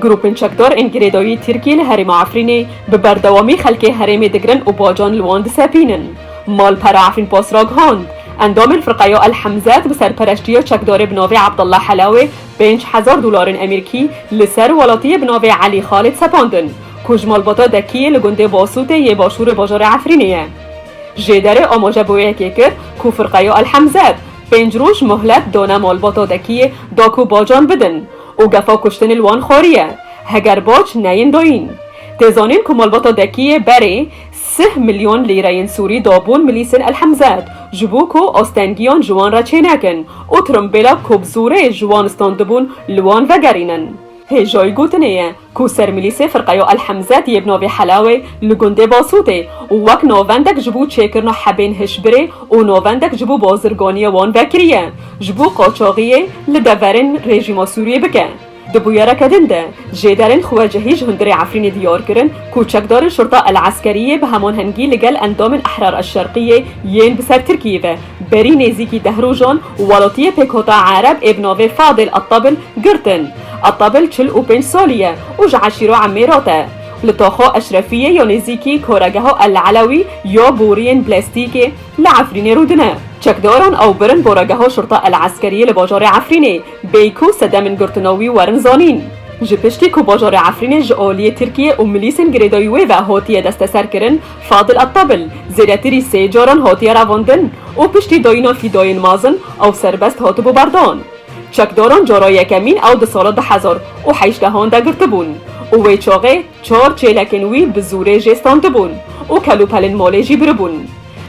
Grûpên çekdar ên girêdayî Tirkiyê li herêma Efrînê bi berdewamî xelkê herêmê digirin û bacan li wan disepînin. Malpera Efrîn Post ragihand, Endamên Firqeya El Hemzet bi serpereştiya çekdarê bi navê Abdullah Helawê pênc hezar dolarên Emirkî li ser welatiyê bi navê Elî Xalid sepandin ku ji malbata Dekiyê li gundê Basûtê yê başûrê bajarê Efrînê ye. Jêderê amaje bi wê yekê kir ku Firqeya El Hemzet, Pênc roj muhlet done malbatodekiyê da ku bacan bidin û gefa kuştinê li wan xwariye heger bac neyên dayîn. Tê zanîn ku malbatodekiyê berê sih milyon lîreyên sûrî dabûn milîsên El Hemzet ji bo ku astengiyan ji wan re çênekin û tirimbêla ku bi zorê ji wan standibûn li wan vegerînin. Hêjayî gotinê ye ku sermilîsê Firqeyo El Hemze tî yê bi navê Helawê li gundê Basûtê û wek navendek ji bo çêkirina hebên hişbirê û navendek ji bo bazirganiyê wan vekiriye ji bo qaçaxiyê li deverên rejîma Sûriyê bike. Di bûyereke din de, jêderên xwecihî ji hundirê Efrînê diyar kirin ku çekdarên Şurta El Eskeriyê bi heman hengî li gel endamên Ehrar El Şerqiyê yên bi ser Tirkiyê ve berî nêzîkî deh rojan Walotiyê pêkhota Ereb ê bi navê Fadil Attabl girtin. Attabl çil û pênc salî ye û ji eşîra Emêrat e. Li toxa Eşrefiyê ya nêzîkî Koregeha El Elewî ya boriyên blastîkê li Efrînê rû dine. Çekdaran ew birin boregeha Şurta El Eskeriyê li bajarê Efrînê, bêyî ku sedemên girtina wî werin zanîn. Ji piştî ku bajarê Efrînê ji aliyê Tirkiyê û milîsên girêdayî wê ve hatiye desteserkirin, Fadil Attabil zêdetirî sê caran hatiye revandin û piştî dayîna fîdayên mezin ew serbest hatibû berdan. Çekdaran cara yekemîn ew di sala du hezar û heştehan de girtibûn û wê çaxê çar çêlekên wî bi zûrê jê standibûn û kelûpelên malê jî biribûn.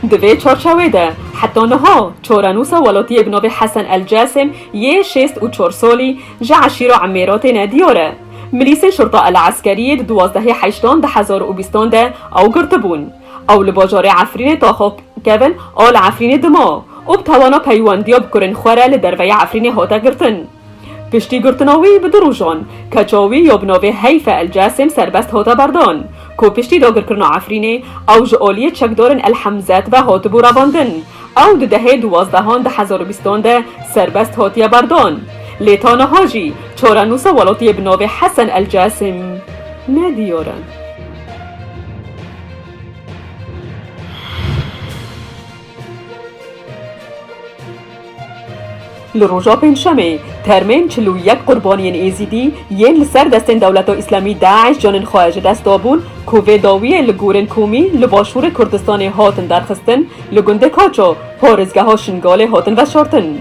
Di vê çarçewê de heta niha çarenûsa welatiyê bi navê Hesen El Casem yê şêst û çar salî ji eşîra Emêratê ne diyar e. Milîsê Şurta El Eskerîyê di duwazdehê Heştan du hezar û bîstan de ew girtibûn. Ew li bajarê Efrînê taxa kevin a li Efrînê dima û bi tawana peywendiya bi kurên xwe re li derveyê Efrînê hate girtin. Piştî girtina wî bi du rojan keça wî ya bi navê Heyfe El Casêm serbest hate berdan ku piştî dagirkirina Efrînê ew ji aliyê çekdarên El Hemzet ve hatibû revandin. Ew di dehê duwazdehan di hezar û bîstan de serbest hatiye berdan, lê ta niha jî çarenûsa welatiyê bi navê Hesen El Casim ne diyar e. Li roja pêncşemê termên çil û yek qurbaniyên êzîdî yên li ser destên Dewleta Îslamî DAIŞ canên xwe ji dest dabûn ku vê dawiyê li gorên komî li başûrê Kurdistanê hatin derxistin li gundê Kaço parêzgeha Şingalê hatin veşartin.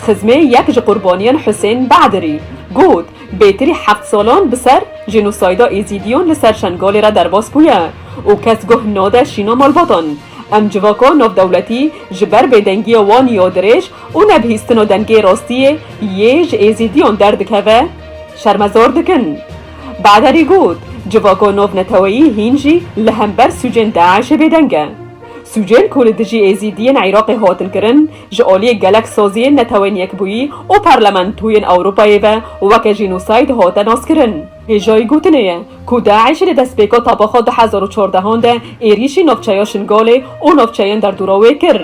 Xizmê yek ji qurbaniyan Husên Bedirî got, Bêtirî heft salan bi ser jênosayda êzîdiyan li ser Şengalê re derbas bûye û kes guh nade şîna malbatan. Em civaka navdewletî ji ber bêdengiya wan ya dirêj Û ne bihîstino dengê rostiyê yê ji êzîdiyon derdikeve, şermezor dikin. Baderî got, Civako nov neteweyî hîn jî li hember sûcên DAIŞ'ê bêdeng e. Sûcên ku li dijî êzîdiyên Iraqê hatin kirin, ji aliyê gelek saziyên Neteweyên Yekbûyî û Parlamentoyên Ewropayê ve weke jînosayid hate naskirin. Hêjayî gotinê ye ku DAIŞ li destpêka tapa xwe du hezar û çardehan de êrîşî navçeya Şingalê û navçeyên derdora wê kir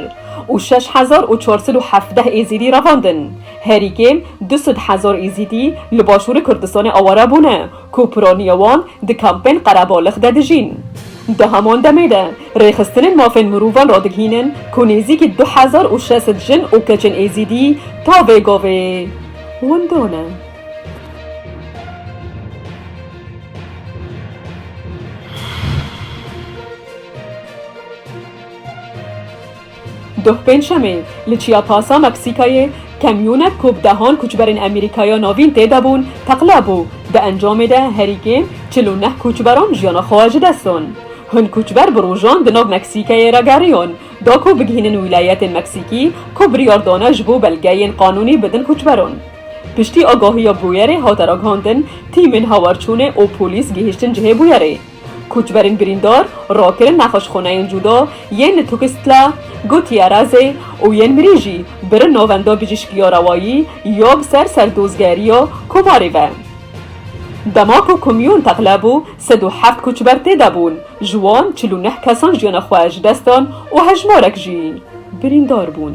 û şeş hezar û çar sed û hevdeh Êzîdî revandin. Herî kêm du sed hezar Êzîdî li başûrê Kurdistanê aware bûne ku piraniya wan di kampên qerebalix de dijîn. Di heman demê de rêxistinên mafên mirovan radigihînin ku nêzîkî du hezar û şeş sed jin û keçên Êzîdî tavê gavê winda ne. Doh Pêncşemê li Çiyapasa Meksîkayê kamyonek ku bi dehan koçberên Amerîkaya navîn tê de bûn teqla bû. Di encamê de herî kêm çil û neh koçberan jiyana xwe ji dest dan. Hin koçber bi rojan di nav Meksîkayê re geriyan da ku bigihînin wîlayetên Meksîkî ku biryar dane ji bo belgeyên qanûnî bidin koçberan. Piştî agahiya bûyerê hate ragihandin, tîmên hawarçûnê û polîs gihîştin cihê bûyerê. Koçberên birîndar rakirin nexweşxaneyên cuda yên li Tukistla, Gutierrezê û yên mirî jî birin Navenda Bijîşkiya Rewayî ya bi ser serdozgeriya Kovarê ve. Dema ku komyon teqle bû, sed û heft koçber tê de bûn, ji wan çil û neh kesan jiyana xwe ji dest dan û hejmarek jî birîndar bûn.